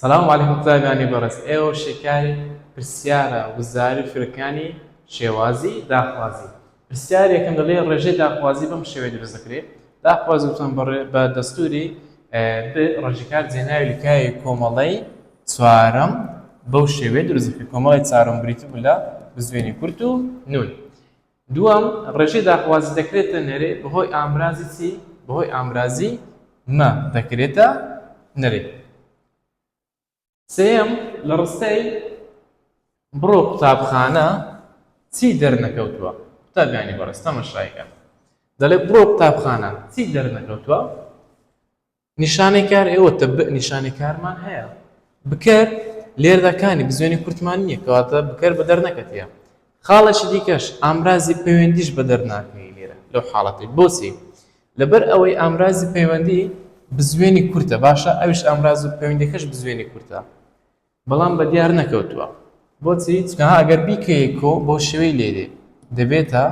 سلام علیکم قوتابیانی بەڕێز ئێوە شیکاری پرسیارە وزاری فرەکانی شێوازی داخوازی پرسیار یەکەم دەڵێ ڕێژەی داخوازی بەم شێوەی دروست دەکرێت داخواز وتان بەڕێ بە دەستوری ڕژکار جێناوی لکاوی کۆمەڵی چوارم بەو شێوێ دروزفی کۆمەڵی چارم بریتی بوو لە بزوێنی کورت و نون دووەم، ڕێژەی داخوازی دەکرێتە نەرێ بەهۆی ئامرازی چی؟ بەهۆی ئامرازی مە دەکرێتە نەرێ. سێیەم، لە ڕستەی بڕۆ قوتابخانە چی دەرنەکەوتووە؟ قوتابیانی بەڕێز تەمەشای کەن. دەڵێ بڕۆ قوتابخانە چی دەرنەکەوتووە؟ نیشانەی کار ئێوە تەبئ نیشانەی کارمان هەیە بکەر لێردا کانی بزوێنی کورتمان نییە کەواتە بکەر بەدەر نەکەتیە خاڵێکی دیکەش ئامرازی پەیوەندیش بەدەر ناکەی لێرە لەو حاڵەتی بۆچی لەبەر ئەوەی ئامرازی پەیوەندی بزوێنی کورتە باشە ئەوش ئامراز و پەیوەندەکەش بزوێنی کورتە بەڵام بە دیار نەکەوتووە. بۆچی؟ چونکە ها ئەگەر بیکەیە کۆ بەو شێوەی لێرێ دەبێتە،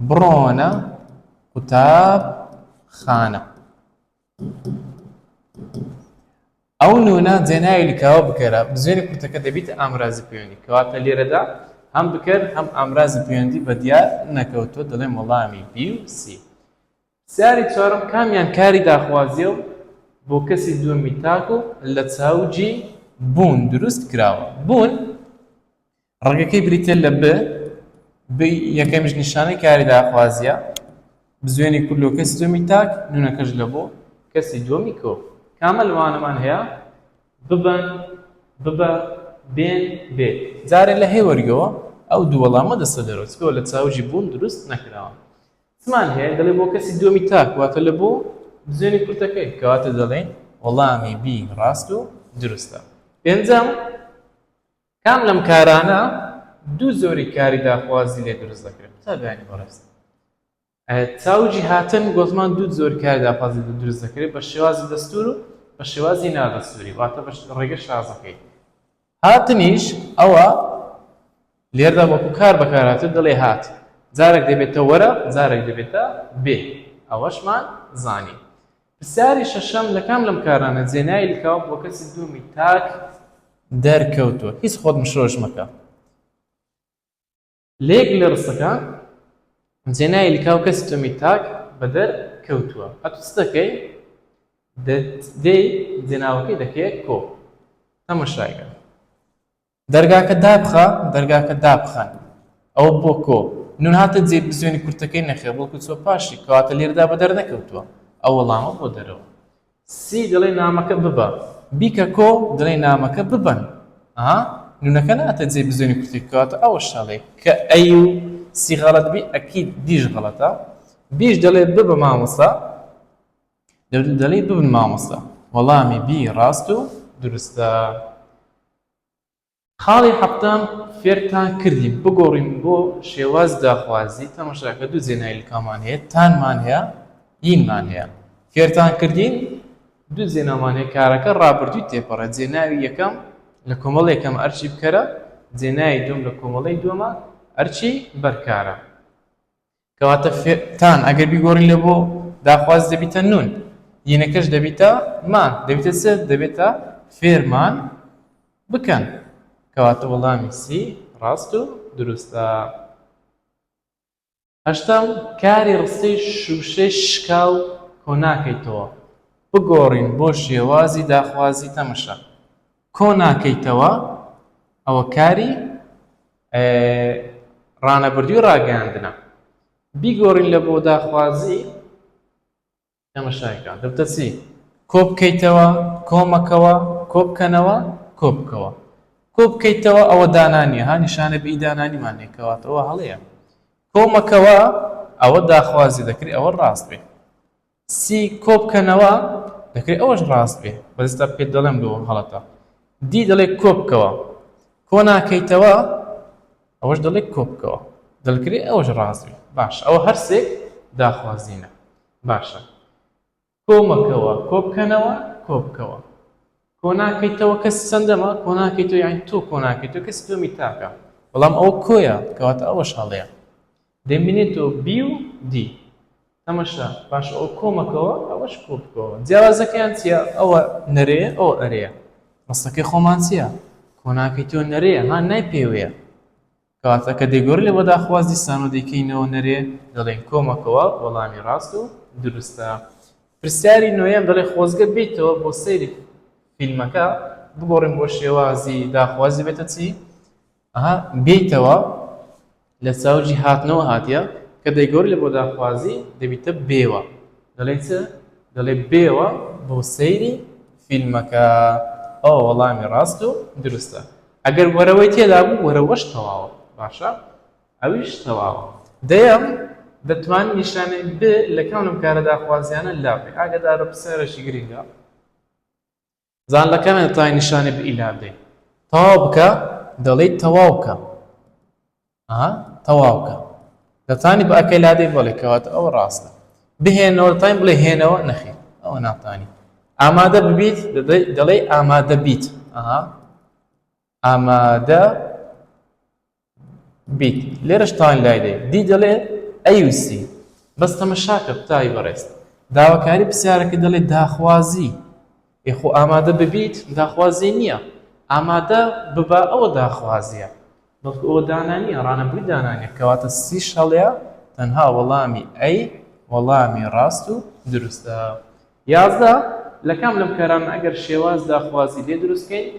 بڕۆنە قوتابخانە. ئەو نوونە جێناوی لکاوە بکەرە، بزوێنی کورتەکە دەبیتە ئامرازی پەیوەندی. کەواتە لێرەدا هەم بکەر هەم ئامرازی پەیوەندی بە دیار نەکەوتووە، دەڵێم وەڵامی بی و سی. پرسیاری چوارەم کامیان کاری داخوازیە و بۆ کەسی دووەمی تاک و لە چاو جی بوون دروست کراوە؟ بوون ڕەگەکەی بریتیە لە ب ب یەکەمیش نیشانەی کاری داخوازیە بزوێنی کورد لۆ کەسی دووەمی تاک نونەکەش لە بۆ کەسی دووەمی کۆ کامە لەوانەمان هەیە ببن ببە بێن بێ جارێ لە هەی وەرگەوە ئەو دوو وەڵامە دەستە دەرۆچکەوە لە چاو جی بوون دروست نەکراوە. چمان هەیە دەڵێ بۆ کەسی دووەمی تاک واتە لە بۆ بزێنی کورتەکەی کەواتە دەڵێین وەڵامی بی ڕاست و دروستە پێنجەم کام لەم کارانە دوو زۆری کاری داخوازی لێ دروست دەکرێت قوتابیانی بەڕێست چاوجی هاتن گۆزمان دوو زۆر کار داخوازی دروست دەکرێت بە شێوازی دەستور و بە شێوازی نادەستوری واتە بە ڕێگە شازەکەی هاتنیش ئەوە لێرەدا وەکو کار بەکارهاتوو دەڵێ هات جارێک دەبێتە وەرە جارێک دەبێتە بێ ئەوەشمان زانی پرسیاری شەشەم لە کام لەم کارانە جێنای لکاو بۆ کەسی دوومی تاک دەرکەوتووە هیچ خۆت مشۆش مەکە لە یەک لە ڕستەکە جێناوی لکاو کەسی تۆمی تاک بەدەر کەوتووە ئەتو چ دەکەی دەی جێناوەکەی دەکەیە کۆ تەمەشایکە دەرگاکە دابخە دەرگاکە دابخەن ئەو بۆ کۆ نون هاتە جێ بزوێنی کورتەکەی نەخێ بڵکو چۆ پاشی کەواتە لێردا بە دەرنەکەوتووە ئەو وەڵامە بۆ دەرەوە سی دەڵێی نامەکە ببە. بیکە کۆ دەڵێی نامەکە ببەن. ئەها نونەکە ناتێت جێی بزوێنی کورتی بکەوەتە ئەوە شەڵێ کە ئەی و سی غەڵەت بی ئەکید دیش غەڵەتە. بیش دەڵێ ببە مامۆستا دەڵێی ببن مامۆستا. وەڵامی بی ڕاست و دروستە. خاڵی حەفتەم، فێرتان کردین بگۆڕین بۆ شێواز داخوازی، تەماشاکە دوو جێنای لکامان هەیە، تانمان هەیە، ینمان هەیە. فێرتان کردین دوو جێنامان هەیە، کارەکە ڕابردووی تێپەڕێت، جێناوی یەکەم لە کۆمەڵەی یەکەم ئەرکی بکەرە، جێناوی دووەم لە کۆمەڵەی دووەمە ئەرکی بەرکارە. کەواتە فێ تان ئەگەر بیگۆڕین لە بۆ، داخواز دەبیتە نون، ینەکەش دەبیتە مان، دەبیتە چ؟ دەبێتە فێرمان بکەن. کەواتە وەڵامی سی ڕاست و دروستە. هەشتەم، کاری ڕستەی شووشەی شکاو کۆناکەیتەوە. بگۆڕین بۆ شێوازی داخوازی تەمشە. کۆ ناکەیتەوە ئەوە کاری ڕانەبردووی ڕاگەیاندنە بیگۆڕین لە بۆ داخوازی تەمەشایکە دەبتە چی کۆ بکەیتەوە کۆمەکەوە کۆ بکەنەوە کۆ بکەوە کۆ بکەیتەوە ئەوە دانانی ها نیشانە بی دانانیمان نێکەوەتەوە هەڵەیە کۆمەکەوە ئەوە داخوازی دەکری ئەوە ڕاست بێ سی کۆبکەنەوە دەکرێت ئەوەش ڕاست بێ بەس ئێستا پێت دەڵێم دووەم هەڵەتە دی دەڵێ کۆبکەوە کۆ ناکەیتەوە ئەوەش دەڵێ کۆبکەوە دەلکرێ ئەوەش ڕاست بێ باش ئەوە هەرسێک داخوازینە باشە کۆمەکەوە کۆبکەنەوە کۆبکەوە کۆ ناکەیتەوە کەسی چەندەمە کۆ ناکەیتەوە یان تۆ کۆ ناکەیتەوە کەسی دومی تاکە بەڵام ئەو کۆیە کەواتە ئەوەش هەڵەیە دەمبینێتەوە بی و دی. تەمەشا پاش ئەوە کۆمەکەوە ئەوەش کۆبکەوە جیاوازەکەیان چیە ئەوە نەرێیە ئەوە ئەرێیە ڕستەکەی خۆمان چیە کۆناکەی تۆ نەرێیە ها نای پێوەیە کەواتە کە دەیگۆرێ لە بەداخواز دیسانەوە دەیکەینەوە نەرێ دەڵێن کۆمەکەوە وەڵامی ڕاست و دروستە پرسیاری نۆیەم دەڵێ خۆزگە بیتەوە بۆ سەیری فیلمەکە بگۆڕین بۆ شێوازی داخوازی بێتە چی ئەها بێیتەوە لە سەوجی هاتنەوە هاتیە کە دەیگۆری لە بۆ داخوازی دەبیتە بێوە دەڵێی چ دەڵێ بێوە بۆ سەیری فیلمەکە ئەوە وەڵامی ڕاست و دروستە ئەگەر وەرەوەی تێدا بوو وەرەوەش تەواوە باشە ئەویش تەواوە دەیەم دەتوان نیشانەی ب لە کام لەم کارە داخوازیانە لاپێ ئاگەدارە پرسیارێکی گرنگە زان لە کامێ تای نیشانی بئ لا بدەی تەواو بکە دەڵێی تەواو کە ئەها تەواو کە لە تانی بە ئەکەی لادەی بەڵێ کەواتە ئەوە ڕاستە بهێنەوە تاین بڵێ هێنەوە نەخێ ئەوە ناتانی ئامادە ببیت دەڵێی ئامادە بیت ئەها ئامادە بیت لێرەش تاین لای دێ دی دەڵێ ئەیوسی بەس تەمەشاکە قوتابی بەڕێز داواکاری پرسیارەکە دەڵێ داخوازی یخۆ ئامادە ببیت داخوازی نییە ئامادە ببا ئەوە داخوازیە بەڵکو ئەوە دانانیە ڕانەبووی دانانیە کەواتە سی شەڵەیە تەنها وەڵامی ئەی وەڵامی ڕاست و دروستە یازدە، لە کام لەم کارانە ئەگەر شێواز داخوازی لێ دروست کەین،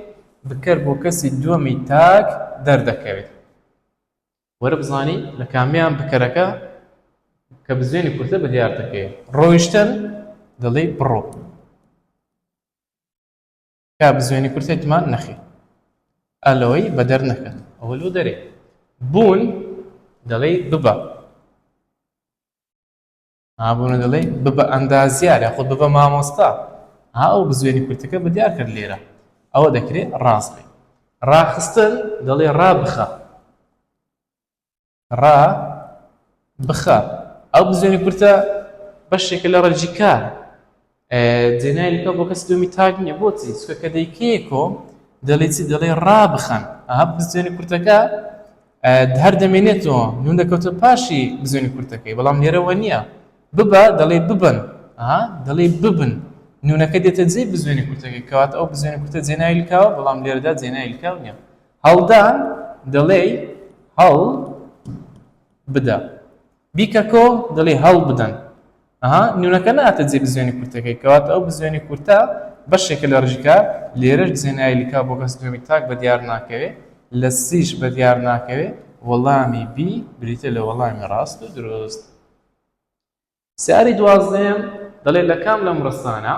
بکەر بۆ کەسی دووەمی تاک دەردەکەوێت. وەرە بزانین لە کامیان بکەرەکە کە بزوێنی کورتە بە دیار دەکەوێت. ڕۆیشتن، دەڵێی بڕۆ. کا بزوێنی کورتە تمان نەخێ. ئەلۆی بە دەر نەکەن. ئەوە لۆ دەرێ. بوون، دەڵێی ببە. ها بۆ نەدەڵێی ببە ئەندازیار یاخود ببە مامۆستا ها ئەو بزوێنی کورتەکە بە دیار کرد لێرە ئەوە دەکرێت ڕاست بێت ڕاخستن دەڵێ ڕا بخە ڕا بخە ئەو بزوێنی کورتە بەشێکە لە ڕەجیکار جێنایلەکە بۆ کەسی دومی تاک نییە بۆچی چکە کە دەیکەیەکۆ دەڵی چی دەڵێ ڕابخەن ئەها بزوێنی کورتەکە هەر دەمێنێتەوە نون دەکەوتە پاشی بزوێنی کورتەکەی بەڵام لێرەوە نییە ببە دەڵێ ببن ئەها دەڵێ ببن نونەکە دێتە جێ بزوێنی کورتەکەی کەوات ئەو بزوێنی کورتە جێنایلکاوە بەڵام لێرەدا جێنایلکاو نییە هەڵدان دەڵێ هەڵ بدە بیکە کۆ دڵی هەڵ بدەن. ئەها نونەکە ناتە جێ بزوێنی کورتەکەی کەواتە ئەو بزوێنی کورتە بەشێکە لە ڕژکار لێرەش بزوێنەای لکا بۆ کەس دووەمی تاک بە دیار ناکەوێ لە سیش بە دیار ناکەوێ وەڵامی بی بریتیە لە وەڵامی ڕاست و دروست. سیاری دوازدەیەم دەڵێ لە کام لەم ڕستانە.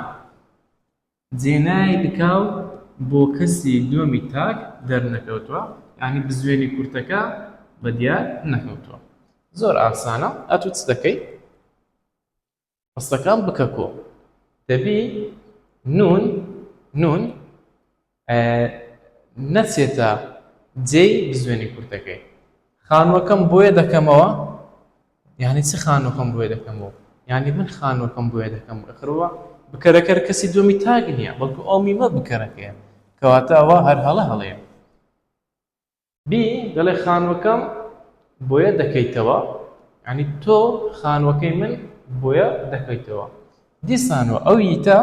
جێنای دکاو بۆ کەسی دوەمی تاک دەرنەکەوتوە یانی بزوێنی کورتەکە بە دیار نەکەوتوە زۆر ئاسانە ئەتو چ دەکەی ڕستەکان بکە کۆ دەبی نون نون نەچێتە جێی بزوێنی کورتەکەی خانوەکەم بۆیە دەکەمەوە یانی چ خانوەکەم بۆێ دەکەمەوە یانی من خانوەکەم بۆێ دەکەم ئەخرەوە بکەرەکەر کەسی دومی تاگ نییە بەڵکو ئەو میمە بکەرەکەیە کەواتە ئەوە هەر هەڵە هەڵەیە بی دەڵێ خانوەکەم بۆیە دەکەیتەوە ینی تۆ خانوەکەی من بۆیە دەکەیتەوە دیسانەوە ئەو یتە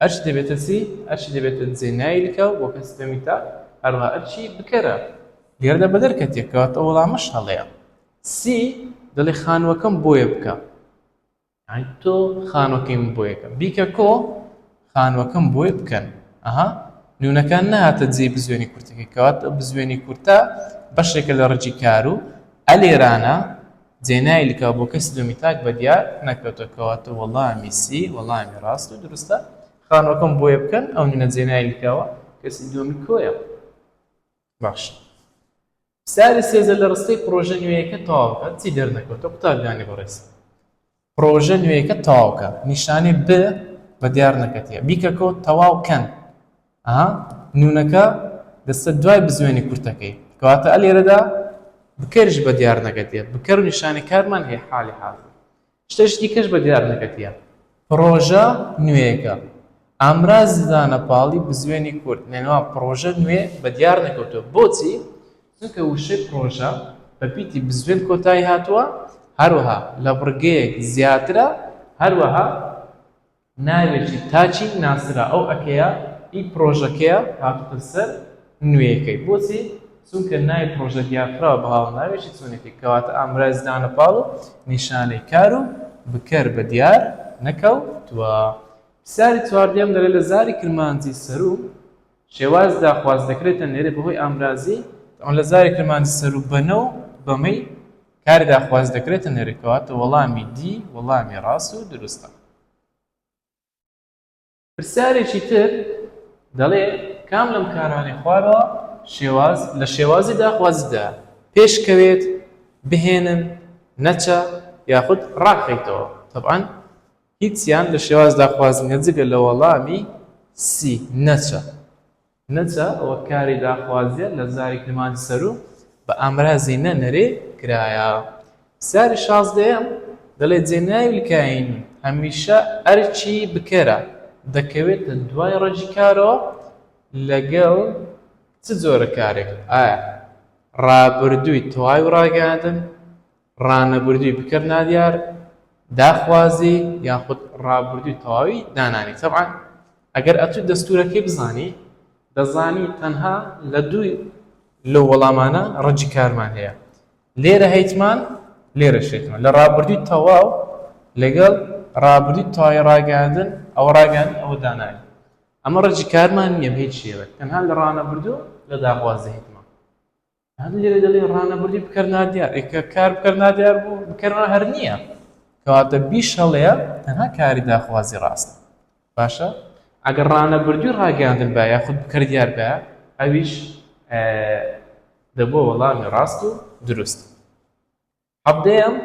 ئەرچی دەبێتە سی، ئەرچی دەبێتە جێ نایلکە و بۆ کەسی دەمی تاک، هەروەها ئەرچی بکەرە گردە بە دەرکەتێک، کەواتە ئەو وەڵامەش هەڵەیە. سی دەڵێ خانووەکەم بۆیە بکە، یانی تۆ خانووەکەی من بۆیە کە. بیکە کۆ، خانووەکەم بۆیە بکەن. ئەها نوونەکە نەهاتە جێی بزوێنی کورتەکەی، کەواتە بزوێنی کورتە بەشێکە لە ڕەگی کار و ئە لێرانە، جێنای لکاو بۆ کەسی دووەمی تاک بەدیار نەکەوتوە کەواتە وەڵامی سی وەڵامی ڕاست و دروستە خانوەکەم بۆیە بکەن ئەو نوێنە جێنای لکاوە کەسی دووەمی کۆیە باشە ساری سێزە لە ڕستەی پڕۆژە نوێیەکە تەواو بکات چی دەرنەکەوتە قوتابیانی بەڕێز. پڕۆژە نوێیەکەت تەواو کە. نیشانەی ب بە دیار نەکەتیە. بیکەکۆ تەواو کەن. ئەها نونەکە دەچتە دوای بزوێنی کورتەکەی. کەواتە ئە لێرەدا بکەرش بە دیار نەکەتیە. بکەر و نیشانەی کارمان هەیە حالی حازر. شتەش دیکەش بە دیار نەکەتیە. پڕۆژە نوێیەکە. ئامرازی دانە پاڵی بزوێنی کورت. نەنوا پڕۆژە نوێ بە دیار نەکەوتوە. بۆچی؟ چونکە وشەی پڕۆژە بە پیتی بزوێن کۆتایی هاتووە، هەروەها لە بڕگەیەک زیاترە، هەروەها ناوێکی تاکی ناسرا، ئەو ئەکەیە ی پڕۆژەکەیە هاتووتە سەر نوێیەکەی. بۆچی؟ چونکە ناوی پڕۆژە دیارکراوە بە هاوناوێکی چۆنێتی، کەواتە ئامرازی دانە پاڵ و نیشانەی کار و بکەر بە دیار نەکەوتووە. پرسیاری چواردەیەم دەڵێت لە زاری کرمانجی سەروو شێوازدا خواست دەکرێت تەنێرێت بەهۆی ئامرازی. ئەو لە زاری کرمانجی سەروو بەنە و بەمەی کاردا خواست دەکرێت تەنێرێت کەواتە وەڵامی دی وەڵامی ڕاست و دروستە. پرسیارێکی تر دەڵێ کام لەم کارانەی خوارەوە شێواز لە شێوازی داخوازیدا پێش کەوێت بهێنن نەچە یاخود ڕاکەیتەوە تەبعەن هیچیان لە شێواز داخواز نییە جگە لە وەڵامی سی، نەچە. نەچە وەک کاری داخوازییە لە زاری کرمانجی سەروو بە ئامرازی نە نەرێ کرایە. پرسیاری شازدەیەم دەڵێ جێ ناوی کاین هەمیشە ئەرکی بکەرە دەکەوێتە دوای ڕەگی کارەوە لەگەڵ چ جۆرە کارێک؟ ئایا ڕابردووی تەواوی ڕاگەیاندن، ڕانەبردووی بکەر نادیار داخوازی یاخود ڕابردووی تەواوی دانانی تەبعەن ئەگەر ئەتوو دەستوورەکەی بزانی دەزانی تەنها لە دووی لەو وەڵامانە ڕەنجی کارمان هەیە لێرە هەیتمان لێرەش هەیتمان لە ڕابردووی تەواو لەگەڵ ڕابردووی تەواوی ڕاگەیاندن ئەوە ڕاگەیاندن ئەوە دانانی ئەمە ڕەنجی کارمان نییە بە هیچ شێوەیەک تەنها لە ڕانەبردوو لە داخوازی هەیتمان هەم لێرە دەڵێ ڕانەبردی بکەر نادیار ئەی کە کار بکەر نادیار بوو بکەرەوە هەر نییە کەواتە بیش هەڵەیە تەنها کاری داخوازی ڕاستە باشە ئەگەر ڕانەبردووی ڕاگەیاندن با یاخود بکەر دیار با ئەویش دەبووە وەڵامی ڕاست و دروست حەڤدەیەم،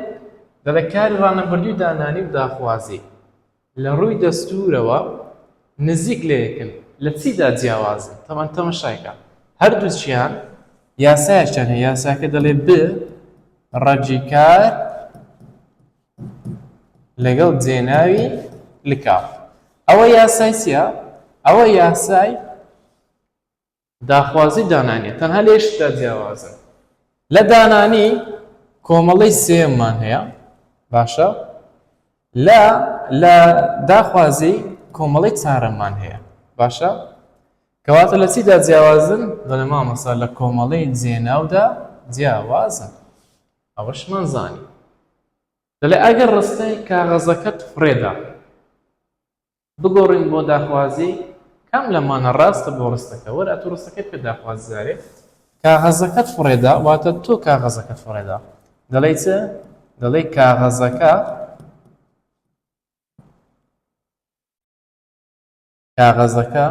دەڵێت کاری ڕانەبردووی دانانی و داخوازی لە ڕووی دەستوورەوە نزیک لە یەکن، لە چیدا جیاوازن؟ تەبعەن تەمەشایکە هەردووکیان یاسایەکیان هەیە، یاساکە دەڵێت ب رەگی کار لەگەڵ جێناوی لکاو. ئەوە یاسای چیە؟ ئەوە یاسای داخوازی دانانی یە تەنها لێشتدا جیاوازن لە دانانی کۆمەڵەی سێمان هەیە باشە لە لە داخوازی کۆمەڵی چارەمان هەیە باشە کەواتە لە چیدا جیاوازن دەڵێ مامەسا لە کۆمەڵی جێناودا جیاوازن ئەوەشمان زانی دەڵێ ئەگەر ڕستەی کاغەزەکەت فڕێدا بگۆڕین بۆ داخوازی کام لەمانە ڕاستە بۆ ڕستەکە؟ وەرە تۆ ڕستەکەی بکە داخوازجارێ کاغەزەکەت فڕێدا واتە تۆ کاغەزەکەت فڕێدا دەڵێی چ؟ دەڵێی کاغەزەکە کاغەزەکە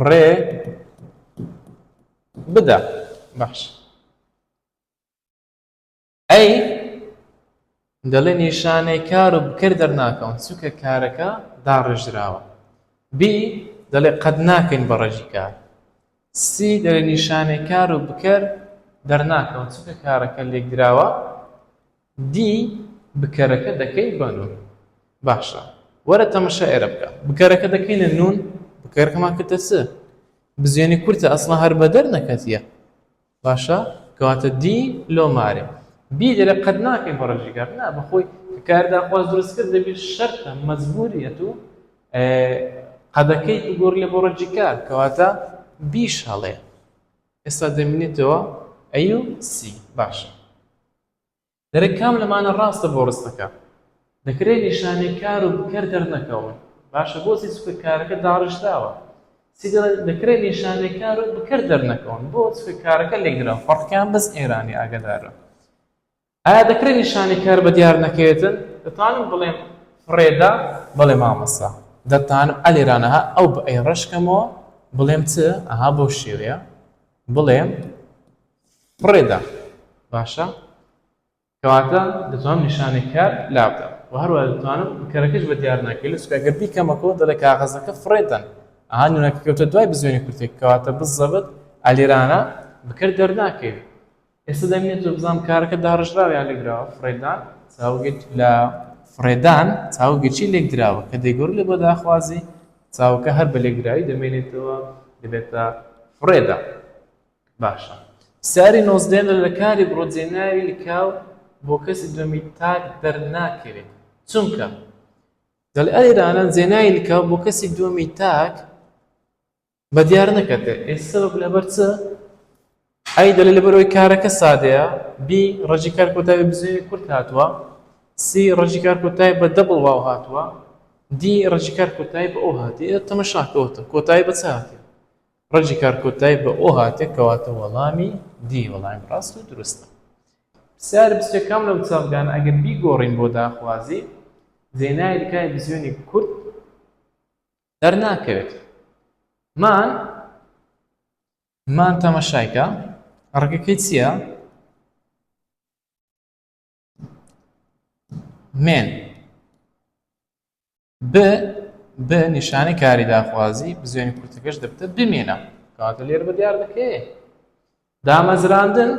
ڕێ بدە بەخش ئەی دەڵێ نیشانەی کار و بکەر دەرناکەون چونکە کارەکە داڕێژراوە بی دەڵێ قەد ناکەین بە ڕەگی کار سی دەڵێ نیشانەی کار و بکەر دەرناکەون چونکە کارەکە لێکدراوە دی بکەرەکە دەکەی بە نون باشە وەرە تەمەشا ئێرە بکە بکەرەکە دەکەینە نون بکەرەکەمان کردە چ بزیێنی کورتە ئەسڵا هەر بەدەر نەکەتیە باشە کەواتە دی لۆ مارێ بی دەلێ قەت ناکەین بە ڕەجی کار نا بەخۆی کە کار دا خواست دروست کرد دەبی شەرتە مەجبوری ئەتو قەدەکەی بگۆر لێ بۆ ڕەجی کار کەواتە بیش هەڵێ ئێستا دەمینێتەوە ئەی و سی باشە دەرێ کام لەمانە ڕاستە بۆ ڕستەکە؟ دەکرێ نیشانەی کار و بکەر دەرنەکەون باشە بۆ چی چونکە کارەکە داڕیژراوە چی دەڵێت دەکرێ نیشانەی کار و بکەر دەرنەکەون بۆ چونکە کارەکە لێکدراوە فەڕقیان بەس ئێرانی ئاگادارە ئایا دەکرێ نیشانەی کار بە دیار نەکەوێتن دەتوانم بڵێم فڕێدا بڵێ مامەسا دەتانم ئەلێرانەها ئەو بە ئەی ڕەشکەمەوە بڵێم چ ئەها بۆ شێوەیە بڵێم فڕێدا باشە کەواتە دەتوانم نیشانەی کار لابدەم و هەروە دەتوانم کەرەکەش بە دیار ناکەی لە چکەگەر بیکەمەکەەوە دەڵێ کاغەزەکە فڕێدەن ئەها نونەکە کەوتە دوای بزوێنی کورتێک کەواتە بزەبت ئەلیرانە بکرد دەرناکەوی ئێستا دەمێت تۆ بزانام کارەکە داڕژراویان لەگراوە فڕێدان چاوگەت لە فڕێدان چاوگەچی لێکدراوە کە دەیگۆر لێ بۆ داخوازی چاوەکە هەر بە لێکدراوی دەمێنێتەوە دەبێتە فڕێدا باشە ساری نۆزدەیەم لە لەکاری بڕۆ جێ ناوی لکاو بۆ کەسی دووەمی تاک دەرناکەوێت چونکە دەڵێ ئەرێرانە جێ ناوی لکاو بۆ کەسی دووەمی تاک بە دیار نەکەتێ ئێستا بە لەبەر چ ئەی دەلێ لەبەرەوەی کارەکە سادەیە بی ڕەجی کار کۆتاوی بزێوی کورت هاتووە سی ڕەجی کار کۆتای بە دەبڵ واو هاتووە دی ڕەجی کار کۆتایی بە ئەو هاتی ئێ تەمە شاکەوتە کۆتایی بە چ هاتی ڕەجی کار کۆتای بە ئۆ هاتێ کەواتە وەڵامی دی وەڵامی ڕاست و دروستە. پرسیار بچێ کام لەو چاپگانە ئەگەر بیگۆڕین بۆ داخوازی زینای لکای بزیۆنی کورد دەرناکەوێت مان مان تەمەشایکە ڕگەکەی چییە؟ مێن ب ب نیشانی کاری داخوازی بزوێنی پرتەکەش دەبتە بمێنە کاتە لێر بە دیار دەکەێ دامەزراندن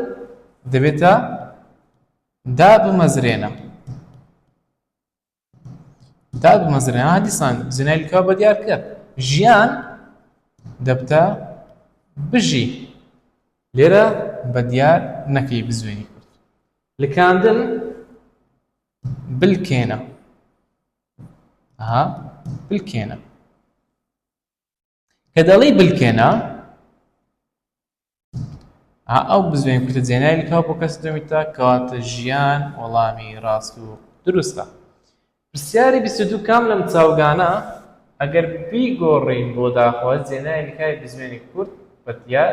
دەبێتە دا بمەزرێنە دابمەزرێنەوە ها دیسان زینای لکە بە دیار کەر ژیان دەبتە بژی لێرە بە دیار نەکەی بزوێنی کورد لکاندن بلکێنە ها بلکێنە کە دەڵی بلکێنە ئەو بزوێن کوتە جێنای لکاو بۆ کەس دەمی تا کەواتە ژیان وەڵامی ڕاست و دروستە پرسیاری بیستدو کام لەم چاوگانە ئەگەر بیگۆڕین بۆ داخواز جێنای لکای بزوێنی کورد بە دیار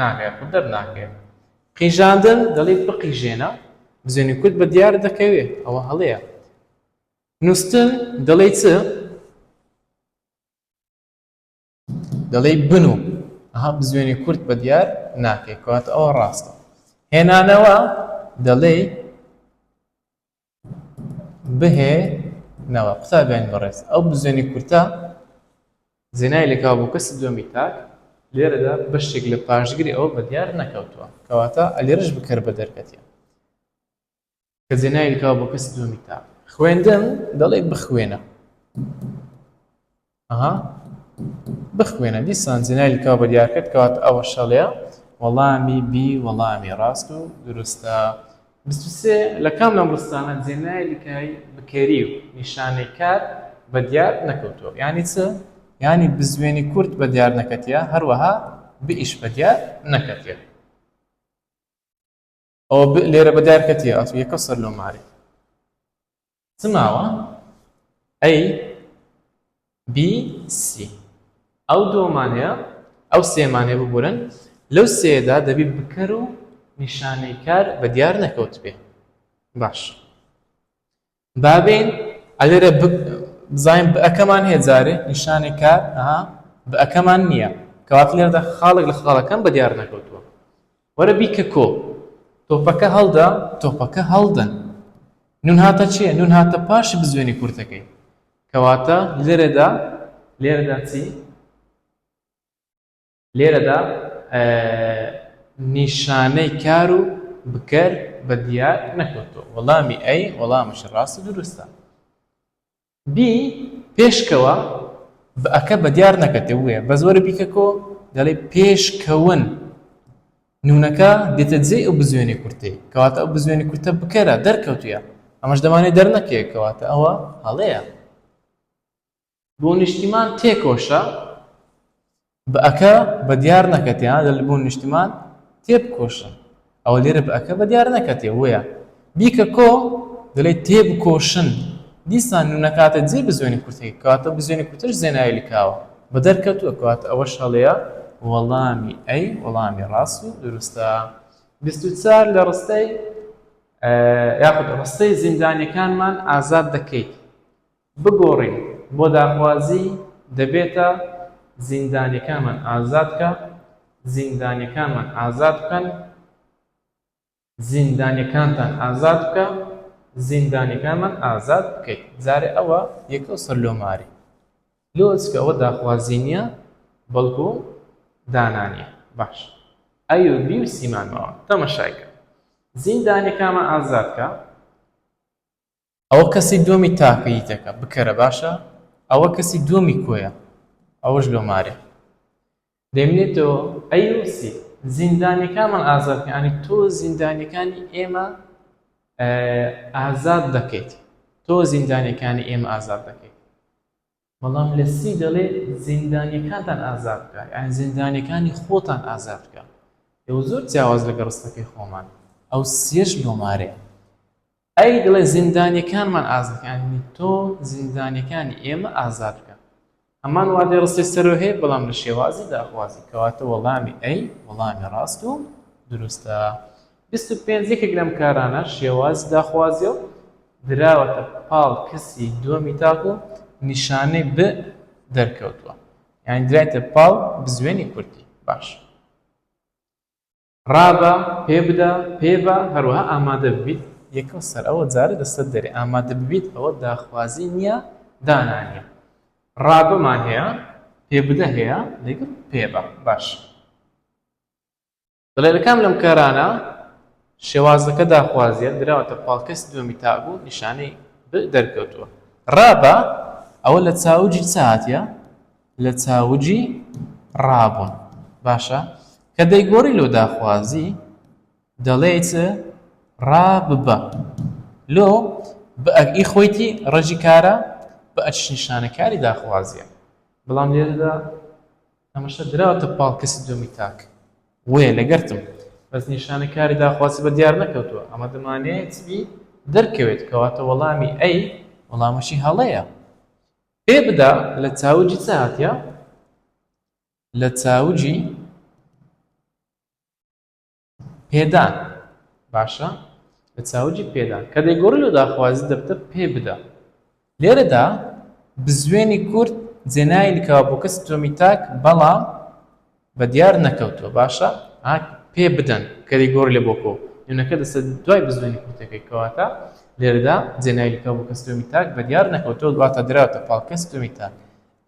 ناکرێت خود دەرناکرێت قیژاندن دەڵی بقیژێنە بزوێنی کورد بە دیار دەکەوێت ئەوە هەڵەیە نووسن دەڵێ چ دەڵێی بن و ئەها بزوێنی کورت بە دیار ناکەی کەواتە ئەوە ڕاستە هێنانەوە دەڵێی بهێ نەوە قوتابیانی بەڕێز ئەو بزوێنی کورتە زێنای لەکاو بۆ کەسی دووەمی تاک لێرەدا بەشتێک لە پاشگری ئەوە بە دیار نەکەوتووە کەواتە ئەلێرش بکەر بە دەرکەتیە کەجێ ناوی کاو بۆ کەسی دووەمی تا خوێندن دەڵێ بخوێنە ئەها بخوێنە دیسان جێناوی کاو بە دیار کرد کەوات ئەوە شەڵێ وەڵامی بی وەڵامی ڕاست و دروستە بسوسێ لە کام لەم ڕستانە جێناوی کای بکەری و نیشانەی کات بە دیار نەکەوتووە یانی چ ینی بزوێنی کورت بە دیار نەکەتە هەروەها بئیش بە دیار نەکەتێت او ب لێرە بە دارکە تێ ئەچ یەکە سەر لۆ مارێ چ ماوە ئەی بی سی ئەو دۆمان هەیە ئەو سێمانێ ببورن لەو سێدا دەبی بکەر و نیشانەی کار بە دیار نەکەوت بێ باش بابین ئەلێرە ب بزانین ب ەکەمان هەیە جارێ نیشانێ کار ئەها ب ەکەمان نییە کەواتە لێرەدا خاڵێک لە خاڵەکان بە دیار نەکەوتووە وەرە بیکە کۆ تۆپەکە هەڵدا تۆپەکە هەڵدەن نون هاتە چیە نون هاتە پاش بزوێنی کورتەکەی کەواتە لێرەدا لێرەدا چی لێرەدا نیشانەی کار و بکەر بە دیار نەکەوتووە وەڵامی ئەی وەڵامش ڕاست و دروستە بی پێشکەوە ئەکە بە دیار نەکەتێ وێ بە زۆرە بیکەکۆ دەڵێ پێشکەون نونەکە دێتە جێ ئەو بزوێنی کورتەی کەواتە ئەو بزوێنی کورتە بکەرە دەرکەوتویە ئەمەش دەمانێت دەرنەکەیەکەواتە ئەوە هەڵەیە بۆ نیشتیمان تێکۆشە بە ەکە بە دیار نەکەتێ ها دەل بۆ نیشتیمان تێبکۆشە ئەوە لێرە بە ەکە بە دیار نەکەتێ وەیە بیکە کۆ دەلێ تێبکۆشن دیسان نو نەکاتە جێ بزوێنی کورتەکە کەواتە بزوێنی کورتەش زێناوی لکاوە بە دەرکەتووە کەواتە ئەوەش هەڵەیە وەڵامی ئەی وەڵامی ڕاست و دروستە بیست و چار لە ڕستەی یاخود ڕستەی زیندانیەکانمان ئازاد دەکەیت بگۆڕین بۆ داخوازی دەبێتە زیندانیەکانمان ئازادکە زیندانیەکانمان ئازاد بکەن زیندانیەکانتان ئازاد بکە زیندانیەکانمان ئازاد بکەیت جارێ ئەوە یەکەو سەر لۆ ماری لۆز کە ئەوە داخوازی نییە بەڵکو دانانیە باش ئەیو بی و سیمانەوە تەمەشایکە زیندانیەکانمان ئازاد کە ئەوە کەسی دوەمی تاکە یتەکە بکەرە باشە ئەوە کەسی دوەمی کۆیە ئەوەش لۆ مارێ دەمێنێتەوە ئەی یوسی زیندانیەکانمان ئازاد کە ئەنی تۆ زیندانیەکانی ئێمە ئازاد دەکەیت تۆ زیندانیەکانی ئێمە ئازاد دەکەیت بەڵام لە سی دەڵێ زیندانیەکانتان ئازاد بکە یانی زیندانیەکانی خۆتان ئازاد بکە ئێوە زۆر جیاواز لەگە ڕستەکەی خۆمان ئەو سیەش لۆمارێ ئەی دڵێ زیندانیەکانمان ئازادکانی تۆ زیندانیەکانی ئێمە ئازاد بکە هەمان وادێ ڕستی سەرۆ هەیە بەڵام لە شێوازی داخوازی کەواتە وەڵامی ئەی وەڵامی ڕاست و دروستە بیست و پێنج یەکێک لەم کارانە شێوازی داخوازیە و دراوەتە پاڵ کەسی دووەمی تاکو نیشانەی ب دەرکەوتووە یانی درایتە پاڵ بزوێنی کوردی باش ڕابە پێ بدە پێ بە هەروەها ئامادە ببیت یەکەم سەر ئەوە جارە لەسەر دەرێ ئامادە ببیت ئەوە داخوازی نییە دانانیە ڕابەمان هەیە پێ بدە هەیە لەگەڵ پێ بە باش دەڵێ لە کام لەم کارانە شێوازەکە داخوازیە دراوەتە پاڵکەسی دووەمی تابوو نیشانەی ب دەرکەوتووە ڕابە ئەوە لە چاوجی چاتە لە چاوجی ڕابوون باشە کە دەیگۆڕی لۆ داخوازی دەڵێیت ڕا ببە لۆ بەئەگئی خۆیتی ڕژی کارە بە ئەچ نیشانەکاری داخوازیە بەڵام لێرەدا ئەمەشە دراوەتە پاڵ کەسی دووەمی تاک وەیە لەگەرتم بەس نیشانە کاری داخوازی بە دیار نەکەوتووە ئەمە دەمانەیە چی دەرکەوێت کەواتە وەڵامی ئەی وەڵامەشی هەڵەیە پێ بدا لە چاوجی چ هاتە لە چاوجی پێدان باشە لە چاوجی پێدان کە دەیگۆڕی لە داخوازی دەبتە پێ بدە لێرەدا بزوێنی کورد جێنای لکاوە بۆ کەسی دووەمی تاک بەڵام بە دیار نەکەوتووە باشە پێ بدەن کە دەیگۆڕی لە بۆکۆ نوێنەکە دەسە دوای بزوێنی کورتەکەی کەواتە لێرەدا جێنای لکاو بۆ کەسی دووەمی تاک بە دیار نەکەوتەوە دواتە دراوتە پاڵ کەسی دووەمی تاک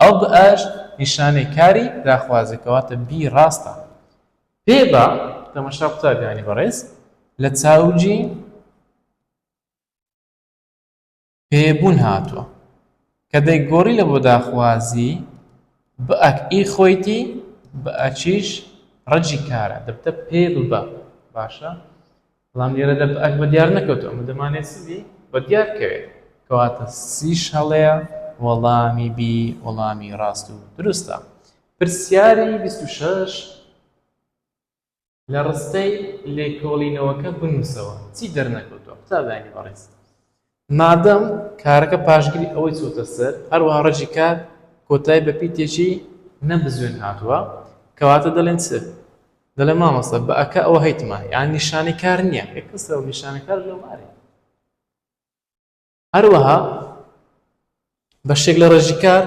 ئەو بئاش نیشانەی کاری داخوازەکەواتە بی ڕاستە پێ با تەمەشا قوتابیانی بەڕێز لە چاوگی پێ بوون هاتووە کە دەی گۆڕی لە بۆ داخوازی بئ ی خۆیتی بئ چیش ڕەجی کارە دەبتە پێ ببە باشە بەڵام لێرەدا بە ئەک بە دیار نەکەوتو ئەمە دەمانێت سبی بە دیار کەوێت کەواتە سیش هەڵەیە وەڵامی بی وەڵامی ڕاست و دروستە پرسیاری 26 لە ڕستەی لێکۆڵینەوەکە بنووسەوە چی دەرنەکەوتوە قوتابیانی بەڕێز مادەم کارەکە پاشگری ئەوەی چۆتە سەر، هەروەها ڕەجی کار کۆتایی بە پیتێکی نەبزوێن هاتووە، کەواتە دەلێن چ؟ دەلێن مامۆستا بە ەکە ئەوە هەیتمە، یانی نیشانەی کار نییە، ئێ کەسە و نیشانەی کار لۆمارێ. هەروەها بەشێک لە ڕێژی کار،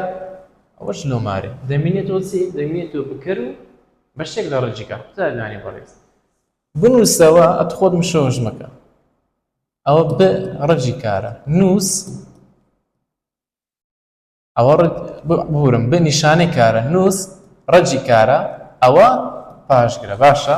ئەوەش لۆمارێ، دەمینێتەوە چی؟ دەمینێتەوە بکەر و بەشێک لە ڕێژی کار. قوتابی لانی بەڕێز بنووسەوە، ئەت خۆت مشەوەش مەکە. ئەوە ب ڕەجی کارە نووس ئەوە بورم بە نیشانەی کارە نووس ڕەجی کارە ئەوە پاشگرە باشە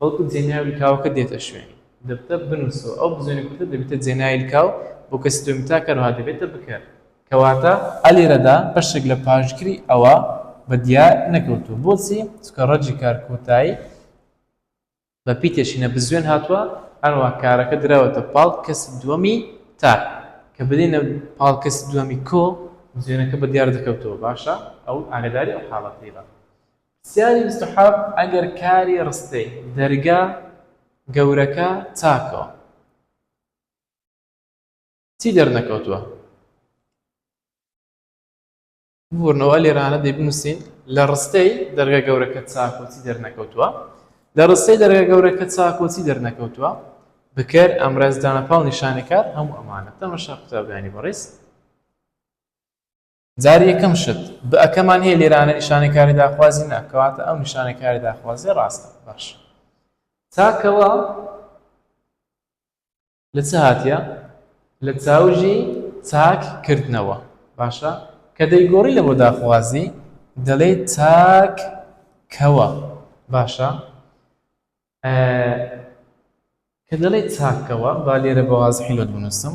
بەڵکو جێناوی لکاوەکە دێتە شوێنی. دەبتە بنووسەوە، ئەو بزوێنە کورتە دەبێتە جێناوی لکاو بۆ کەسی دووەمی تا کەر وەها دەبێتە بکەر. کەواتە ئە لێرەدا بەشێک لە پاشگری ئەوە بە دیار نەکەوتووە. بۆچی؟ چونکە ڕەجی کار کۆتایی بە پیتێشینە بزوێن هاتووە، هەروەها کارەکە دراوەتە پاڵ کەسی دووەمی تا. کە بدەینە پاڵ کەسی دووەمی کۆ، بزوێنەکە بە دیار دەکەوتەوە، باشە؟ ئەو ئاگەداری ئەو حاڵەتەی بە. پرسیاری بیست و حەڤد ئەگەر کاری ڕستەی، دەرگا، گەورەکە، چاکەوە. چی دەرنەکەوتووە؟ ببورنەوە لێرانە دەی بنووسین لە ڕستەی، دەرگا گەورەکە، چاکەوە چی دەرنەکەوتووە؟ لە ڕستەی، دەرگا گەورەکە، چاکەوە چی دەرنەکەوتووە؟ بکەر، ئامراز، دانەپاڵ، نیشانەکار، هەموو ئەمانە. تەمەشا قوتابیانی بەڕیز. جار یەکەم شت بئ کەمان هەیە لێرانە نیشانەی کاری داخوازی نا کەواتە ئەو نیشانەی کاری داخوازیە ڕاستە باشە تاکەوە لە چ هاتیە لە چاوژی تاک کردنەوە باشە کە دەیگۆڕی لە بۆ داخوازی دەڵێ تاک کەوە باشە کە دەڵێ تاکەوە با لێرە بەوازحیلت بنووسم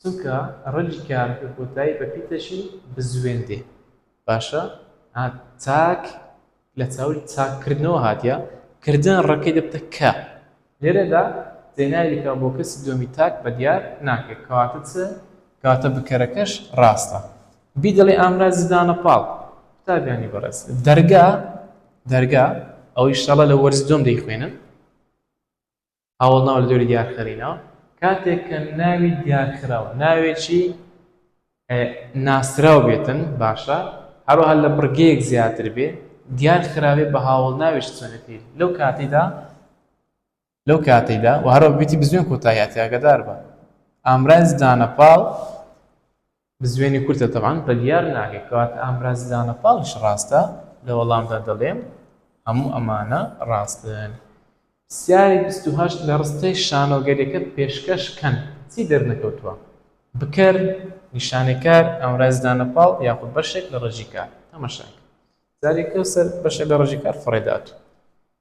چونکە ڕەگی کارەکە کۆتایی بە پیتەکی بزوێن دێ باشە ها تاک لە چاوی تاک کردنەوە هاتیە کردن ڕەکەی دەبتە کە لێرەدا زێناویکە بۆ کەسی دووەمی تاک بە دیار ناکرێت کەواتە چ کەواتە بکەرەکەش ڕاستە بی دەڵێ ئامرازی دانە پاڵ قوتابیانی بەڕێز دەرگا دەرگا ئەوەی شەڵە لە وەرز دوم دەیخوێنن هاوەڵناو لە دەوری دیارخرینەوە کاتێک کە ناوی دیارخراو ناوێکی ناسراو بێتن باشە هەروەها لە بڕگەیەک زیاتر بێ دیار خراوێ بە هاوڵ ناوێش چۆنەتی لەو کاتیدا لەو کاتیدا و هەرۆ بیتی بزوێن کۆتاییاتیاگەدار بە ئامرانز دانەپاڵ بزوێنی کورتە تەبعەن بریار ناکەی کاک ئامراز دانە پاڵیش ڕاستە لە وەڵامدا دەڵێم هەموو ئەمانە ڕاستن پرسیاری بیست و هەشت لە ڕستەی شانۆگەریەکەت پێشکەش کەن چی دەرنەکەوتووە بکەر نیشانەی کار ئامراز دانە پاڵ یاخود بەشێک لە ڕێژی کار تەمەشاکە زاری کەوسەر بەشێک لە ڕێژی کار فڕێ داتوو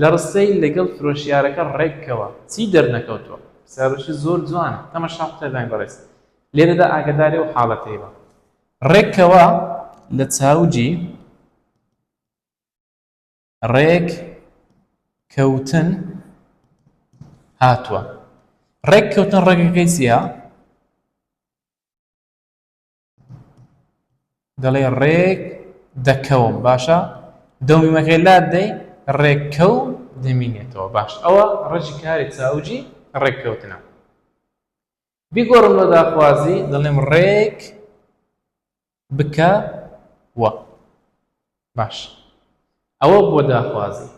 لە ڕستەی لەگەڵ فرۆشیارەکە ڕێک کەوە چی دەرنەکەوتووە؟ پرسیارێکی زۆر جوانە تەماشا بکە برای بەڕێز لێرەدا ئاگەداری ئەو حاڵەتەی بە ڕێک کەوە لە چاوجی ڕێک کەوتن هاتووە ڕێک کەوتن ڕێگەکەی چیە؟ دەڵێ ڕێک دەکەوم باشە دەو میمەکەی لات دەی ڕێککەو دەمینێتەوە باش ئەوە ڕەجی کاری چاوجی ڕێککەوتنە بیگۆڕم لە داخوازی دەڵێم ڕێک بکە وە باش ئەوە بۆ داخوازی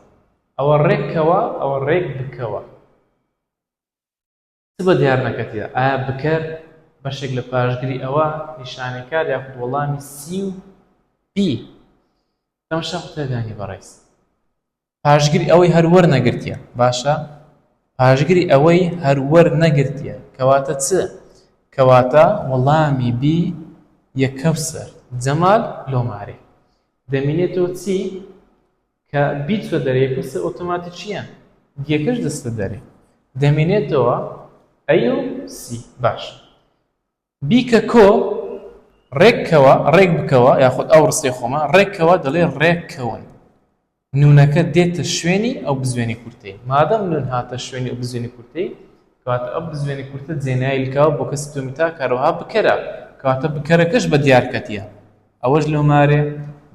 ئەوە ڕێکەوە ئەوە ڕێک بکەوە چ بە دیار نەکەتیە؟ ئایا بکەر بەشێک لە پاشگری ئەوە؟ نیشانەکار یاخود وەڵامی سی و بی تەمەشا قوتابیانی بەڕێز. پاشگری ئەوەی هەر وەرنەگرتیە باشە پاشگری ئەوەی هەر وەرنەگرتیە کەواتە چ کەواتە وەڵامی بی یە کەوسەر جەمال لۆمارێ دەمینێتەوە چی کە بیچوە دەرێ پرسە ئۆتۆماتی چیە دیەکەش دەستە دەرێ دەمێنێتەوە ئەیو سی باش بیکە کۆ ڕێککەوە ڕێک بکەوە یاخود ئەو ڕستەی خۆمە ڕێککەوە دەڵێ ڕێککەون نونەکە دێتە شوێنی ئەو بزوێنی کورتەی مادەم نون هاتە شوێنی ئەو بزوێنی کورتەی کەواتە ئەو بزوێنی کورتە جێنایلکەوە بۆ کەسی تۆمیتا کارەوەها بکەرە کەواتە بکەرەکەش بە دیارکەتیە ئەوەش لەو مارێ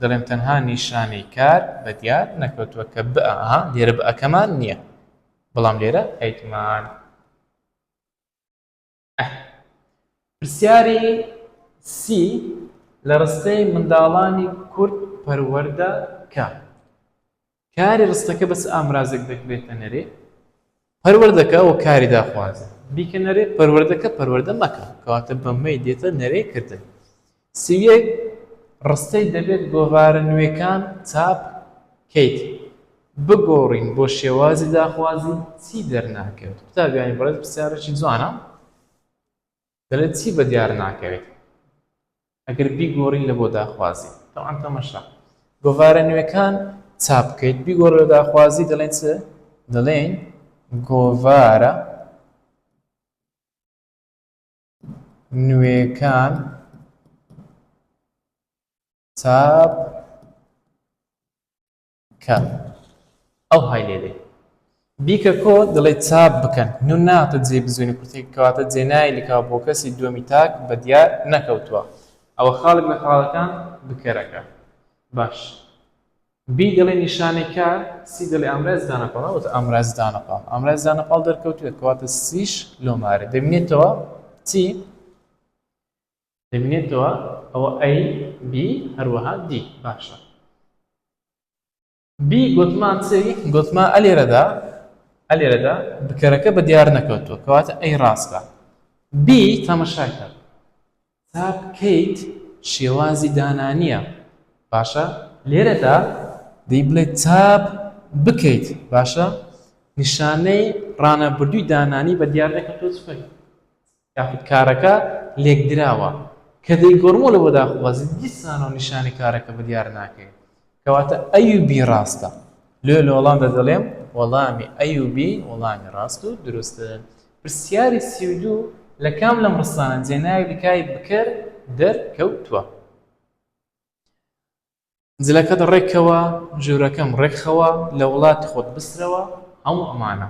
دەڵێم تەنها نیشانەی کار بە دیار نەکەوتووە کە بئ ئەها لێرە بئەکەمان نیە بەڵام لێرە ئەیتمان. ئه. پرسیاری سی لە ڕستەی منداڵانی کورد پەروەردە کە. کاری ڕستەکە بە چ ئامرازێک دەکرێتە نەرێ؟ پەروەردەکە و کاری داخوازی بیکە نەرێ، پەروەردەکە پەروەردە مەکە، کەواتە بە مەی دێتە نەرێ کردن. سی و یەک، ڕستەی دەبێت گۆڤارە نوێکان چاپ کەیت بگۆڕین بۆ شێوازی داخوازی چی دەرناکەوێت؟ قوتابیانی بەڕێز پرسیارێکی جوانە. دەڵێت چی بەدیار ناکەوێت ئەگەر بیگۆڕین لە بۆ داخوازی تەوان تەمەشا گۆڤارە نوێکان چاپ بکەیت بیگۆڕ لە داخوازی دەڵێن چ دەڵێن گۆڤارە نوێکان چاپ کە ئەو های لێ دێ بیکە کۆ دەڵێ چاپ بکەن نو ناتە جێ بزوێنی کورتێک کەواتە جێ نای لکاو بۆ کەسی دووەمی تاک بە دیار نەکەوتووە ئەوە خاڵێک لە خاڵەکان بکەرەکە باش بی دەڵێ نیشانەی کا سی دەڵێ ئامراز دانەپاڵ ئەوەتە ئامراز دانەپاڵ ئامراز دانەپاڵ دەرکەوتوێت کەواتە سیش لۆمارە دەبینێتەوە چی دەبینێتەوە ئەوە A B هەروەها D باشە B گوتمان چی گوتمان ئە لێرەدا ئە لێرەدا بکەرەکە بە دیار نەکەوتووە کەواتە ئەی ڕاستە B تەمەشاکە تا بکەیت شێوازی دانانیە باشە لێرەدا دەی بڵێ تاب بکەیت باشە نیشانەی ڕانەبردووی دانانی بە دیار دەکەن تۆ چکەیت یاخود کارەکە لێکدراوە کە دەیگۆڕمەوە لەوە داخوازی دیسانەوە نیشانی کارەکە بە دیار ناکەی کەواتە ئەی و بی ڕاستە لۆ لە وەڵامدا دەڵێم وەڵامی ئەی و بی وەڵامی ڕاست و دروستن پرسیاری سی و دوو لە کام لەم ڕستانە جێناوی لکای بکەر دەر کەوتووە؟ جلەکەت ڕێک کەوە ژورەکەم ڕێک خەوە لە وڵاتی خۆت بسرەوە هەموو ئەمانە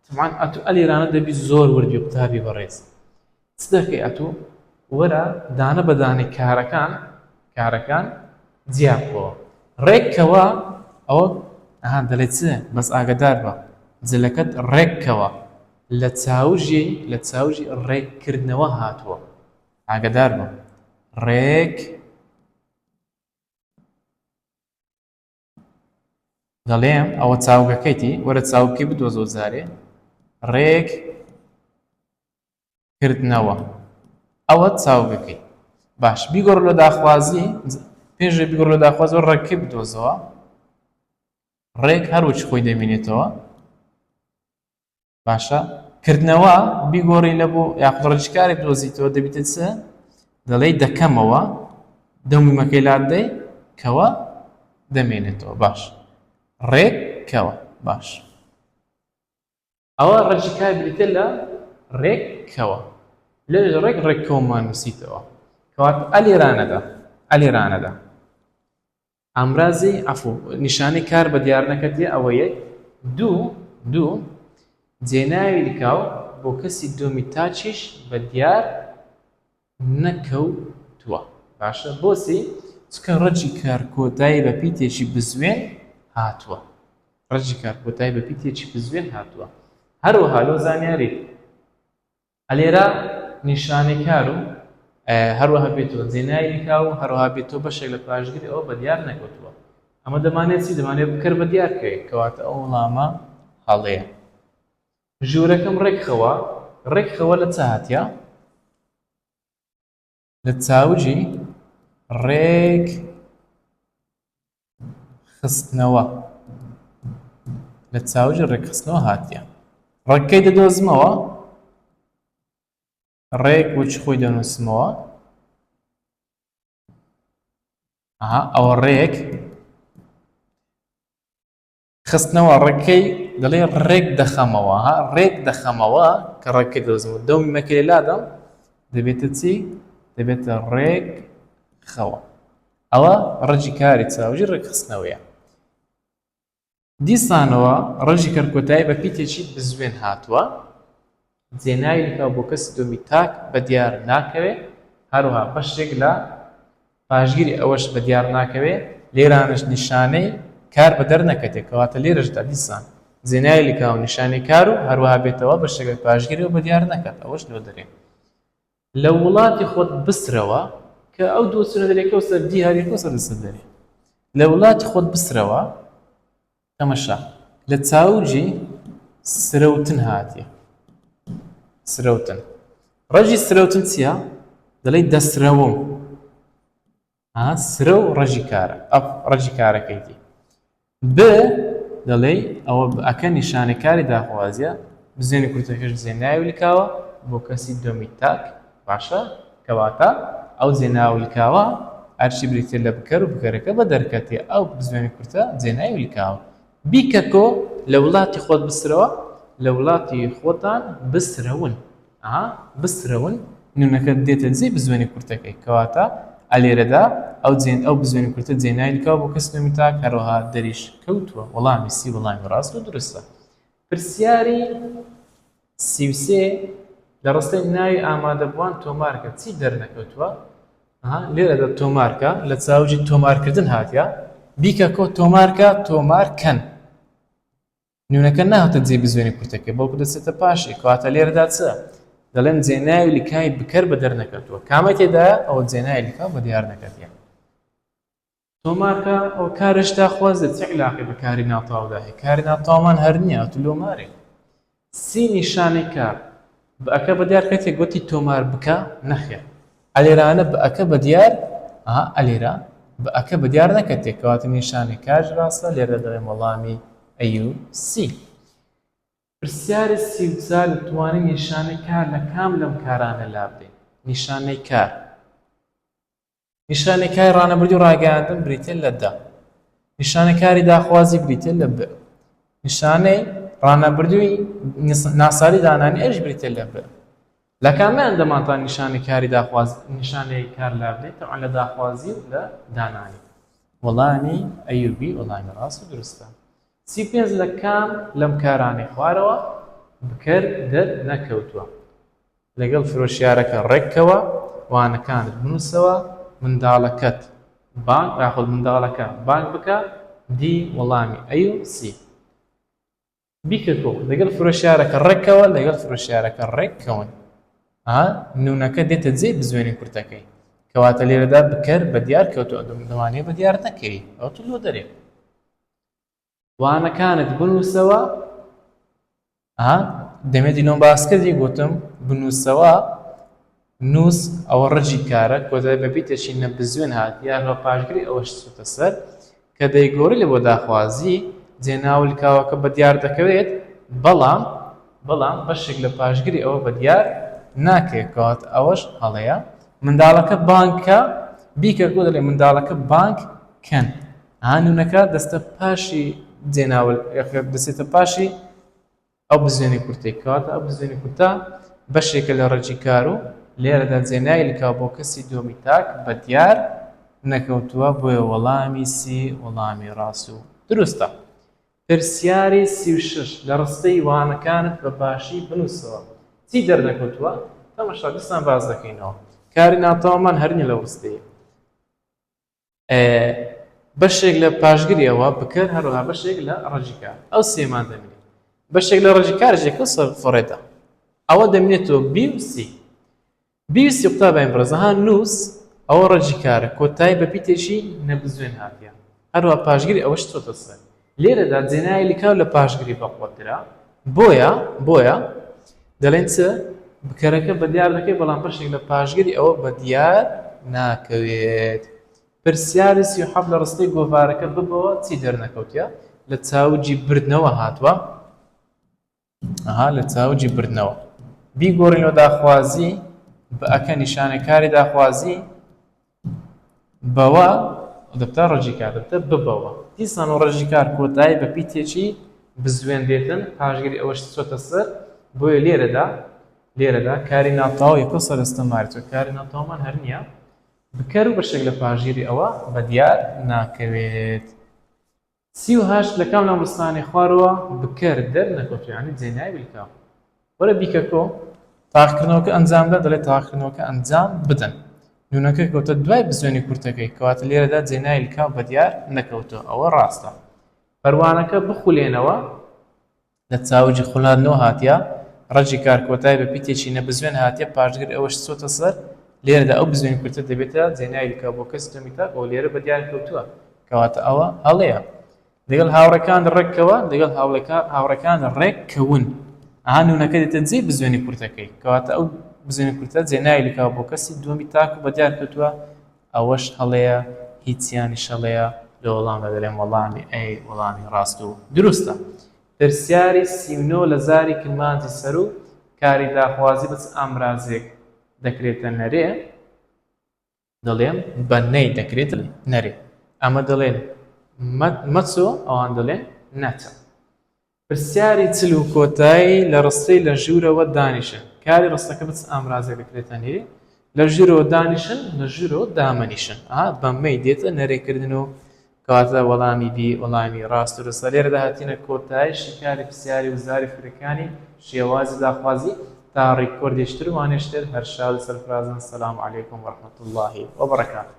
تەبعەن ئەتو ئەل ئیرانە دەبی زۆر ورد بی قوتابی بەڕێز چ دەکەی ئەتو وەرە دانە بە دانەی کارەکان کارەکان جیا بکەوە ڕێک کەوە ئەوە ئەها دەلێ چ بەس ئاگەدار بە جلەکەت ڕێک کەوە لە چاوژی لە چاوژی ڕێک کردنەوە هاتووە ئاگەدار بە ڕێک دەڵێم ئەوە چاوگەکەیتی وەرە چاوکی بدۆ زۆر جارێ ڕێک کردنەوە ئەوە چاوگەکەی باش بیگۆڕ لە داخوازی پێشێ بیگۆڕ لە داخواز و ڕێکی بدۆزەوە ڕێک هەروچ خۆی دەمینێتەوە باشە کردنەوە بیگۆڕی لە بۆ یاخود ڕجکارێک دۆزیتەوە دەبیتە چ دەڵێی دەکەمەوە دەمومەکەی لادەی کەوە دەمێنێتەوە باش ڕێک کەوە باش ئەوە ڕجکار بریتە لە ڕێک کەوە لە ڕێک ڕێکەوەمان نووسیتەوە کەوات ئەلیرانەدا ئەلیرانەدا ئامرازی عەفو، نیشانەی کار بە دیار نەکردیە ئەوە یەک دوو دوو جێناوی لکاو بۆ کەسی دووەمی تاچیش بە دیار نەکەوتووە باشە بۆچی؟ چکە ڕەجی کار کۆتایی بە پیتێکی بزوێن هاتووە ڕەجی کار کۆتایی بە پیتێکی بزوێن هاتووە هەروەها لۆ زانیاری ئەلێرە نیشانەی کار و هەروەها بێتوە زێنای نکا و هەروەها بێتوە بەشێک لە پاشگری ئەوە بە دیار نەکەوتووە ئەمە دەمانێت چی دەمانێت بکەر بە دیار کرێت کەواتە ئەو وڵامە هەڵەیە ژوورەکەم ڕێکخەوە ڕێکخەوە لە چ هاتە لە چاوجی ڕێک خستنەوە لە چاوجی ڕێکخستنەوە هاتیە ڕەکەی دەدۆزمەوە ڕێک وچ خۆی دەنووسمەوە ئەوە ڕێک خستنەوە ڕێکەی دەڵێ ڕێک دەخەمەوە ها ڕێک دەخەمەوە کە ڕێکە دۆزمەوە دەومی مەکرێ لادەم دەبێتە چی دەبێتە ڕێک خەوە ئەوە ڕەجی کاری چاوجی ڕێکخستنەوەیە دیسانەوە ڕژی کەرکۆتایی بە پیتێکی بزوێن هاتووە جێناویلکە بۆ کەسی دووەمی تاک بەدیار ناکەوێت، هەروەها بەشێک لە پاشگیری ئەوەش بەدیار ناکەوێت، لێرانەش نیشانەی کار بەدەر نەکەتێ، کەواتە لێرەشدا دیسان جێناویلکە و نیشانەی کار و هەروەها بێتەوە بەشێک لە پاشگیری و بەدیار نەکات ئەوەش لۆ دەرێ. لە وڵاتی خۆت بسرەوە کە ئەو دوو چوونە دەرێکە و سەر دیاریکە و سەر لەسەر دەرێ لە وڵاتی خۆت بسرەوە. تەمەشا لە چاوجی سرەوتن هاتیە سرەوتن ڕەژی سرەوتن چییە دەڵی دەسرەوم سرە و ڕەژی کارە ئەف ڕەژی کارەکەیتی ب دەڵێ ئەوە ئەکە نیشانەکاری داخوازیە بزێنی کورتەکەش زێناوی لکاوە بۆ کەسی دۆمی تاک باشە کەواتە ئەو جێناو لکاوە ئەرچی بریتیە لە بکەر و بکەرەکە بە دەرکەتێ ئەو بزوێنە کورتە جێناوی لکاوە. بیکەکۆ لە ولاتی خۆت بسرەوە لە ولاتی خۆتان بسرەون ئەها بسرەون نونەکە دێتە جێی بزوێنە کورتەکەی کەواتە ئەلێرەدا ئەو جێن ئەو بزوێنە کورتە جێناوی لکاوە بۆ کەس نوێ تاک هەروەها دەریش کەوتووە وەڵامی سی وەڵامی ڕاست و دروستە پرسیاری سی و سێ، لە ڕستەی ناوی ئامادەبووان تۆمار کە، چی دەرنەکەوتووە؟ ئەها لێرەدا تۆمار کە، لە چاوجی تۆمارکردن هاتیە، بیکە کۆ تۆمار کە، تۆمار کەن. نوونەکە ناهاتە جێی بزوێنی کورتەکەی، بەڵکو دەچێتە پاشی، کەواتە لێرەدا چ؟ دەڵێم جێناوی لکاوی بکەر بە دەرنەکەوتووە. کامەی تێدایە؟ ئەوە جێناوی لکاو بە دیارنەکەتیە. تۆمارکە ئەوە کارێش داخوازێ چ عیلاقەی بە کاری ناتاودا هەیە کاری ناتاومان هەر نیە ئەتو لۆ مارێ سی نیشانی کار بە ئەکە بە دیار کەتێک گوتی تۆمار بکە نەخێر ئەلێرانە بە ئەکە بە دیار ئەها ئەلێرا بە ئەکە بە دیار نەکە تێکەواتە نیشانی کاش ڕاستە لێرە دەڵێم وەڵامی ئەیو سی پرسیاری سی و چار دەتوانی نیشانی کار لە کام لەم کارانە لابدەین نیشانەی کار نیشانەکای ڕانەبردی و ڕاگەیاندن بریتین لە دە نیشانەکاری داخوازی بریتین لە ب نیشانەی ڕانەبردووی ناساری دانانی ئەش بریتە لە ب لە کامیان دەمانتان نیشانی کاری داخواز نیشانەی کار لا بدەیت تەعان لە داخوازی و لە دانانی وەڵامی ئەیوبی وەڵامی ڕاست و درستە سی پێنج لە کام لەم کارانی خوارەوە بکەر دەر نەکەوتووە لەگەڵ فرۆشیارەکە ڕێککەوە، وانەکانت بنووسەوە، منداڵەکەت بانگ یاخود منداڵەکە بانگ بکە، دی وەڵامی ئەی و سی بیکە کۆ لەگەڵ فرۆشیارەکە ڕێککەوە، لەگەڵ فرۆشیارەکە ڕێککەون. ئا نونەکە دێتە جێی بزوێنی کورتەکەی. کەواتە لێرەدا بکەر بەدیار کەوتووە، دەمانەوێت بەدیار نەکەوی، ئەوتۆ لۆ دەرێ. وانەکانت بنووسەوە ها دەمێتی لۆم باس کردی گوتم بنووسەوە نووس ئەوە ڕجی کارە کۆدای بەبیتەشی نە بزوێن هات یا هەڵ پاشگری ئەوەش سوتە سەر کە دەیگۆڕی لە بۆ داخوازی جێ ناولکاوەکە بە دیار دەکەوێت بەڵام بەڵام بەشێک لە پاشگری ئەوە بە دیار ناکرێت کات ئەوەش هەڵەیە منداڵەکە بانکە بیکە گۆ دەڵێ منداڵەکە بانک کەن هانونەکە دەستە پاشی جێناول ەکە دەچێتە پاشی ئەو بزوێنی کورتەی کەواتە ئەو بزوێنی کورتە بەشێکە لە ڕێکی کار و لێرەدا جێنایلکا بۆ کەسی دۆمی تاک بە دیار نەکەوتووە بۆیە وەڵامی سی وەڵامی ڕاست و دروستە پرسیاری سی و شش لە ڕستەی وانەکانت بە باشی بنووسەوە چی دەرنەکەوتووە تەمەشا دیسان باز دەکەینەوە کاری ناتەوامان هەر نیە لەو ڕستەیە بەشێک لە پاشگری ئەوە بکەر هەروەها بەشێک لە ڕەجی کار ئەو سێمان دەمێنێت بەشێک لە ڕەجی کارژێکە سەر فڕێدا ئەوە دەمێنێتەوە بیوسی بیوسی قوتا باین بڕزەها نووس ئەوە ڕەجی کارە کۆتایی بە پیتێکی نەبزوێن هاتیان هەروە پاشگری ئەوە شتۆتە سەر لێرەدا جێنایە لکاو لە پاشگری بەقوە ترە بۆیە بۆیە دەڵێن چ بکەرەکە بە دیار دەکەی بەڵام بەشێک لە پاشگری ئەوە بە دیار ناکەوێت پرسیاری سی حەف لە ڕستەی گۆڤارەکە ببەوە چی دەرنەکەوتە لە چاوجی بردنەوە هاتووە ئەها لە چاوجی بردنەوە بیگۆڕین و داخوازی بە ئەکە نیشانە کاری داخوازی بەوە دەبتا ڕژی کار دەبتە ببەوە دیسان و ڕژی کار کۆتایی بە پیتێکی بزوێن دێتن پاشگری ئەوەش چۆتە سەر بۆیە لێرەدا لێرەدا کاری ناتاو یەکۆ سەرستە مارچە کاری ناتاومان هەر نییە بکەر و بەشێک لە پاژیری ئەوە بە دیار ناکەوێت سی و هەشت لە کام لەم ڕستانەی خوارەوە بکەر دەر نەکەوتووە یانی جێنای بلکاو وەرە بیکە کۆ. تاقیکردنەوەکە ئەنجام بدە دەڵێت تاقیکردنەوەکە ئەنجام بدەن نونەکە کەوتە دوای بزوێنی کورتەکەی کەواتە لێرەدا جێنای لکاو بەدیار نەکەوتووە ئەوە ڕاستە. پەروانەکە بخولێنەوە لە چاوگی خولا نۆ هاتیە، ڕەگی کار کۆتای بە پیتێکی نەبزوێن هاتیە، پاشگر ئەوەش چۆتە سەر، لێرەدا ئەو بزوێن کورتە دەبێتە جێناوی بکە بۆ کەس تۆمی تاک و لێرە بە دیار کەوتووە، کەواتە ئەوە هەڵەیە. لەگەڵ هاوڕێکانت ڕێک کەوە، لەگەڵ هاوڕێکانت ڕێک کەون، ئەها نوونەکە دێتە جێی بزوێنی کورتەکەی، کەواتە ئەو بزوێن کورتە جێناوی لکاو بۆ کەسی دووەمی تاک و بە دیار کەوتووە، ئەوەش هەڵەیە هیچیانیش هەڵەیە لە وەڵامدا دەلێم وەڵامی ئەی وەڵامی ڕاست و دروستە پرسیاری سی و نۆ لە زاری کرمانجی سەرو کاری داخوازی بە چ ئامرازێک دەکرێتە نەرێ دەڵێم بە نەی دەکرێتە نەرێ ئەمە دەڵێن مەچۆ ئەوان دەڵێن نەچە. پرسیاری چل و کۆتایی لە ڕستەی لە ژوورەوە دانیشە کاری ڕستەکە بە چ ئامرازێک دەکرێتە نێ لە ژوورەوە دانیشن لە ژوورەوە دامەنیشن ئا بەمەی دێتە نەرێکردن و کەواتە وەڵامی بی وەڵامی ڕاست و ڕستە لێرەدا هاتینە کۆتایی شیکاری پرسیاری وزاری فرەکانی شێوازی داخوازی تا ڕیکۆردیشتر وانیشتر هەر شاد و سەرفرازن سلام علیکم ورحمەتوڵڵاهی وبرکاتوه